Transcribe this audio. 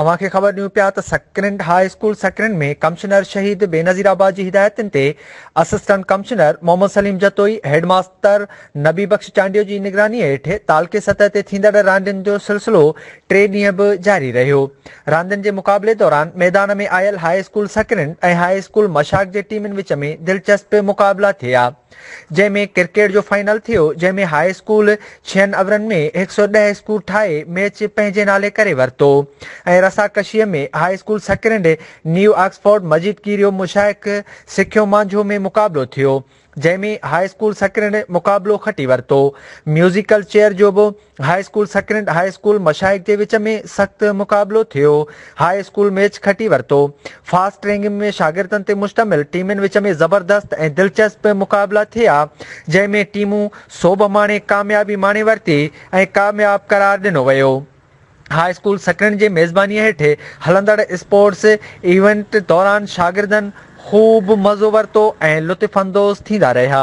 اوهان کي خبر ڏيون پيا ته Sakrand high school Sakrand ۾ commissioner Shaheed Benazirabad جي هدايتن تي assistant commissioner Muhammad Saleem Jatoi, headmaster Nabi Bakhsh Chandio جي نگراني هيٺ تعلقي سطح تي ٿيندڙ راندين جو سلسلو ٽي ڏينهن به جاري رهيو. راندين جي مقابلي دوران ميدان ۾ آيل high school Sakrand ۽ high school Mashak جي ٽيمن وچ ۾ دلچسپ مقابلا ٿيا. جنهن ۾ ڪرڪيٽ جو فائنل ٿيو جنهن ۾ هاء اسڪول ڇهن اورن ۾ هڪ سؤ ڏهه اسڪور ٺاهي ميچ پنهنجي نالي ڪري ورتو ۽ رسا ڪشيء ۾ high school Sakrand new Oxford Majeed ڪيريو مشائق سکيو مانجهو ۾ مقابلو ٿيو جنهن ۾ هاء اسڪول سڪرنڊ مقابلو کٽي ورتو ميوزيڪل چيئر جو به high school Sakrand high school مشائق جي وچ ۾ سخت مقابلو ٿيو هاء اسڪول ميچ کٽي ورتو فاسٽ رينگنگ ۾ شاگردن تي مشتمل ٽيمن وچ ۾ زبردست ۽ دلچسپ مقابلا ٿيا جنهن ۾ ٽيمون سوڀ ماڻي ڪاميابي ماڻي ورتي ۽ ڪامياب قرار ڏنو ويو هاء اسڪول سڪرنڊ جي ميزباني هيٺ هلندڙ اسپورٽس ايونٽ دوران شاگردن خوب مزو ورتو ۽ لطف اندوز ٿيندا رهيا.